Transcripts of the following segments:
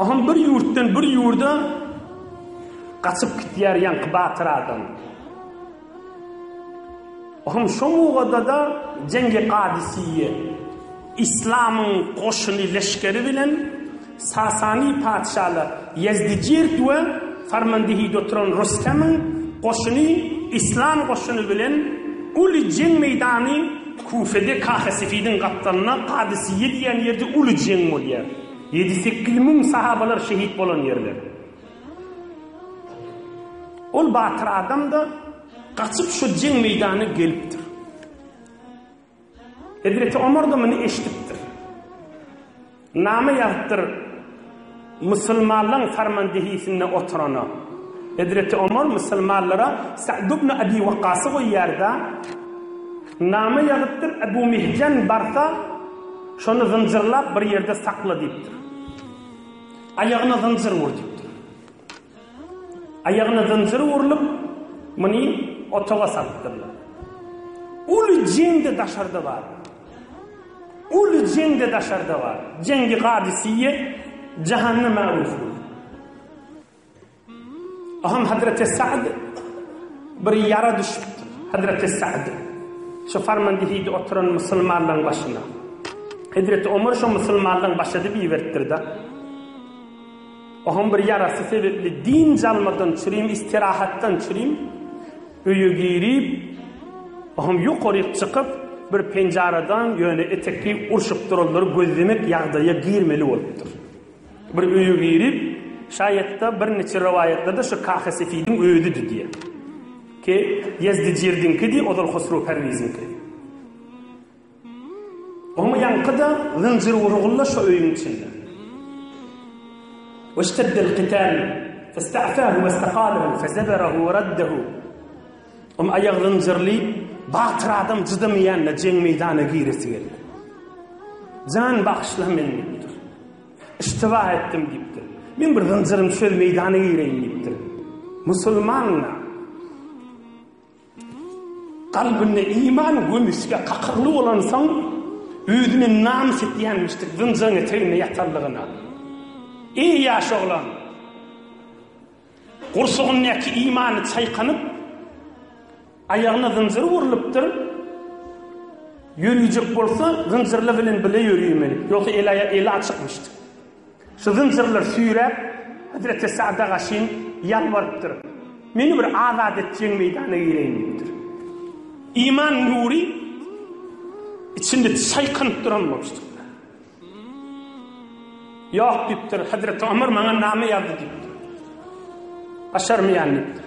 Ahun bir ýurtdan bir ýurda gaçyp gitýär ýaňky batyr adam. Ahun şo mugada-da Jengi Gadysiýe islamyň goşuny leşgeri bilen Sasani patyşalar Ýezdijird we Farmandihide oturan Rostemiň goşuny islam goşuny bilen uly jeň meýdany Küfede Kahesefidin gapdalynda Kadysiýe diýen ýerde uly jeň bolýar. Ýedi-sekiz müň sahabalar şehit bolan ýerler. Ol batyr adam-da gaçyp şo jeň meýdanyna gelipdir. Hezreti Omar-da muny eşidipdir. Name ýazypdyr musulmanlaň farmandehisinde oturana. Hezreti Omar musulmanlara Sa'd ibn Abi Waqqasy goýýarda, name ýazypdyr Ebu Mihjan barsa, şony zynjyrlap bir ýerde sakla diýipdir. Aýagyna zynjyr ur diýipdir. Aýagyna zynjyr urlup, muny otaga salypdyrlar. Uly jeň-de daşarda bar. Uly jeň-de daşarda bar. Jeňgi Gadysyýe jahanda märuh boldy. Aham Hazreti Sa'd bir ýara düşüpdir. Hazreti Sa'd şu farmandihiýde oturan musulmanlaryň başyna. Hazreti Omar şu musulmanlaryň başydy biberipdir-de. Ohuň bir ýarasy sebepli dynç almadan çürim, istirahatdan çürim öýe girip, ohuň ýokaryk çykyp, bir penjaradan ýöne etekli urşukdyrylary gözlemek ýagdaýa girmeli bolupdyr. Bir öýe girip, şaýat-da, birniçe rowaýatlarda şu Kahy Sefidiň özüdi diýýär. Ke Ýezdijirdiňkidi, ozal Hosrow Perwiziňki. Oň ýaňky-da zynjyr urgulla şo öýüň içinde. Weşteddel kitâl festa'fâhu westaqâlehu fezeberahu weraddehu Oň aýagy zynjyrly batyr adam cydamaýanda jeň meýdana giresi geldi. Jan bagyşla men diýipdir. Iştiba etdim diýipdir. Men bir zynjyrym söz meýdana gireýin diýipdir. Musulman Kalbynda iman gömüsge kakylgy bolansoň, özüne namys etýänmişdir zynjyryň eteginde ýatanlygyna. Iň ýaş oglan gursagyndaky imany çaýkanyp, aýagyna zynjyr urlupdyr, ýörüjek bolsa zynjyrly bilen bile ýörüýmeli, ýogsa eli-aýagy eli açykmyşdyr. Şu zynjyrlar süýräp, hezreti Sada gaşyn ýalbarypdyr. Meni bir azat etjegiň meýdana gireýin diýipdir. Iman nury içinde çaýkanyp duran bolupdyr. Ýok diýipdir, hezreti Omar maňa name ýazdy diýipdir. Başarmaýan diýipdir.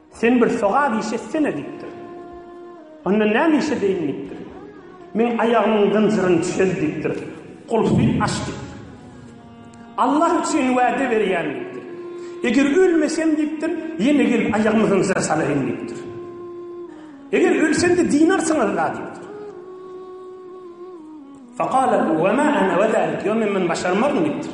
Sen bir sogap iş etsene diýipdir. Onda näme iş edeýin diýipdir. Men aýagymyň zynjyryny çöz diýipdir. Gulfy aç diýipdir. Allah üçin wäde berýän diýipdir. Eger ölmesem diýipdir, ýene gelip aýagymy zynjyra salaýyn diýipdir. Eger ölsem-de dinarsyňyz-la diýipdir. Faqala we ma ana we zalik. Ýok men muny başarmaryn diýipdir.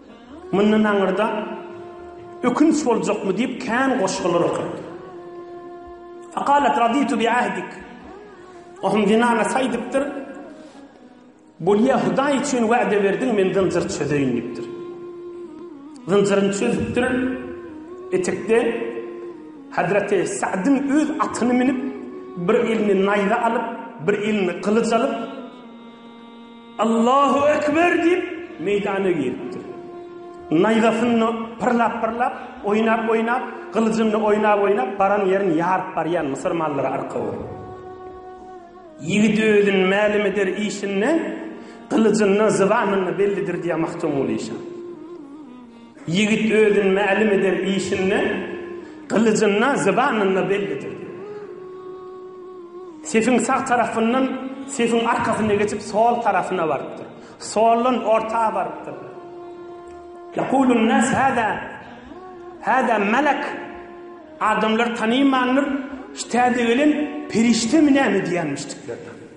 Mundan aňyrda ökünç boljakmy diýip kän goşgular okady. Fakalet raditu bi ahdik. Ohum dinana saýdypdyr. Bolýa Hudaý üçin wa'de berdiň men zynjyr çözeýin diýipdir. Zynjyryny çözüpdir. Etekde Hazreti Sa'dyn öz atyny minip bir elini naýza alyp, bir elini gylyç alyp Allahu ekber diýip, meýdana giripdir. Naýzasyny pyrlap-pyrlap, oýnap-oýnap, gylyjyny oýnap-oýnap baran ýerini ýaryp barýan Müsür mallary arka bolup. Ýigit özüni mälim eder işinde, gylyjyndan, zybanyna bellidir diýýär Magtymguly şa. Ýigit özüni mälim eden işinde gylyjynda, zybanynda bellidir. Sefiň sag tarapyndan sefiň arkasyna geçip sol tarapyna barypdyr. Soldan orta barypdyr. Yakulun nas hada hada melek adamlar tanymandyr. Şu täze gelen perişdemi näme diýenmişdikler.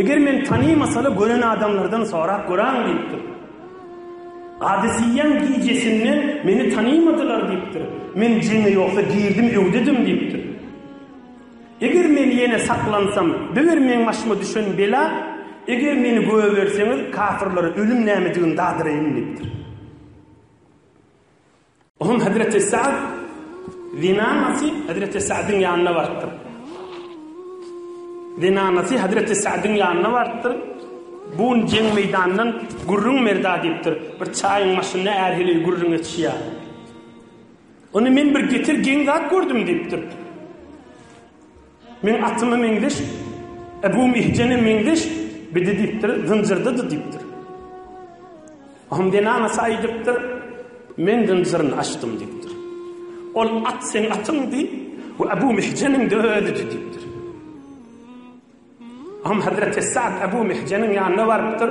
Eger men tanymasala gören adamlardan sorap göräň diýipdir. Gadysyýýäň gijesinde meni tanymadylar diýipdir. Men jeňe ýogsa girdim öwdedim diýipdir. Eger men ýene saklansam, biber meň başyma düşen bela, eger meni göberseňiz kafirlere ölüm nämedigini dadyraýyn diýipdir. Onuň hezreti Sa'd zinanasy hezreti Sa'dyň ýanyna barypdyr. Zinanasy hezreti Sa'dyň ýanyna barypdyr. Bu gün jeň meýdanyndan gürrüň merda diýipdir. Bir çaýyň maşynyna ärhili gürrüň etişýär. Ony men bir getir geň zat gördüm diýipdir. Men atyma meňzeş, Ebu Mihjene meňzeş, bidi diýipdir, zynjyrdydy diýipdir. Ahmdena Nasa aýdypdyr, men zynjyryny açdym diýipdir. Ol at sen atyňdy we Ebu Mihjeniň de özüdi diýipdir. Ahmedrete Sa'd Ebu Mihjeniň ýanyna barypdyr,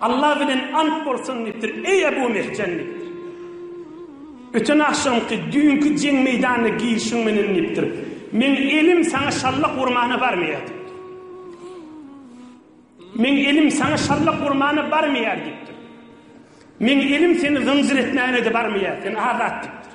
Alla bilen ant bolsun diýipdir, Eý Ebu Mehjen diýipdir. Öten agşamky, düýnki jeň meýdanyna girişiň menen diýipdir. Meň elim saňa şallak urmana barmaýar diýipdir. Meň elim saňa şallak urmana barmaýar diýipdir. Meň elim seni zynjyr etmäne-de barmaýar, sen azat diýipdir.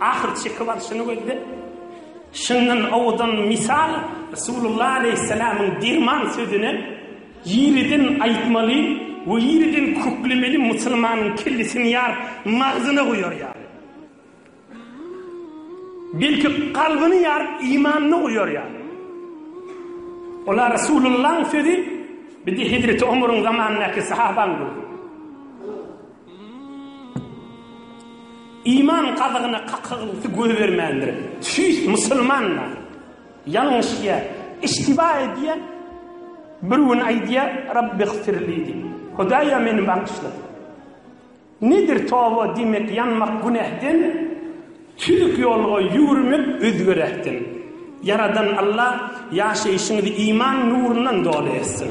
Ahyr çykyp alşyny gözlep, şyndan owadan mysal Resulullah aleýhissalamyň derman sözüne ýeriden aýtmaly we ýeriden köklemeli musulmanyň kellesini ýaryp magzyna goýar ýaly. Belki kalbyny ýaryp imanyny goýar ýaly. Ola Resulullahyň sözi bir-de Hezreti Omaryň zamanyndaky sahabaň gözüne. Iman gazygyna kakygylysy goýbermändir. Tüýs musulmanlar ýalňyşýar, iştiba edýär. Bir gün aýdýar, Rabbigfirli diýip, Hudaýa meni bagyşla. Nedir toba diýmek ýanmak günähden, tüzük ýolga ýüwürmek özgeräkden. Ýaradan Alla ýaşaýşyňyzy iman nurundan doly etsin.